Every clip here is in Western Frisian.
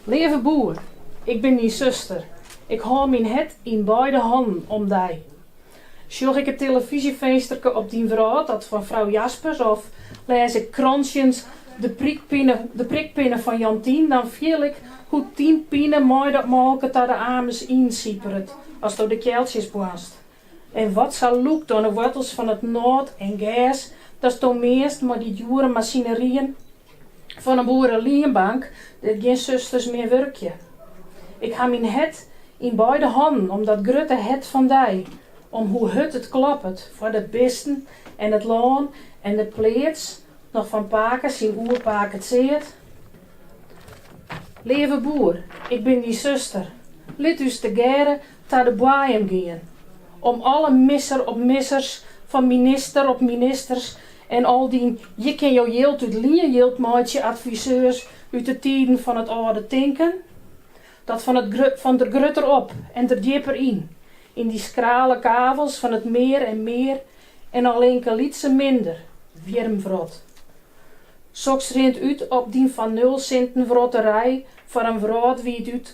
Leave boer, ik bin dyn suster. Ik hâld myn hert yn beide hannen om dy. Sjoch ik it tillefyzjefinsterke op dyn wrâld, dat fan frou Jaspers, of lês ik krantsjens de prikpinne fan Jantien, dan fiel ik hoe't dyn pine mei dat molke ta de amers yn siperet, asto de kealtsjes boarnst. En wat sa lûkt oan 'e woartels fan it nôt en gers, datsto meanst mei dy djoere masineryen fan 'e boerelienbank dêr't gjin susters mear wurkje. Ik ha myn hert yn beide hannen om dat grutte hert fan dy, om hoe hurd it kloppet foar de bisten en it lân en de pleats, noch fan pake syn oerpake tseat. Leave boer, ik bin dyn suster, lit ús tegearre ta de boaiem gean, om alle misser op missers fan minister op ministers en al dyn je kin jo jild út lien jild meitsje adviseurs út de tiden fan it âlde tinken, dat fan der grutter op en der djipper yn, yn dy skrale kavels fan it mear en mear en allinkelytsen minder wjirmwrot. Soks rint út op dyn fan nul sinten wrotterij foar in wrâldwiid út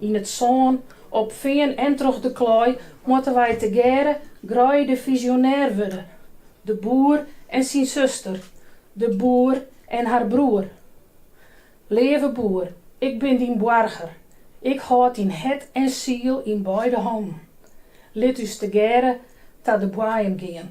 Yn it sân, op fean en troch de klei moatte wy tegearre greidefisionêr wurde, de boer en syn suster, de boer en har broer. Leave boer, ik bin dyn boarger, ik hâld dyn hert en siel yn beide hannen. Lit ús tegearre ta de boaiem gean.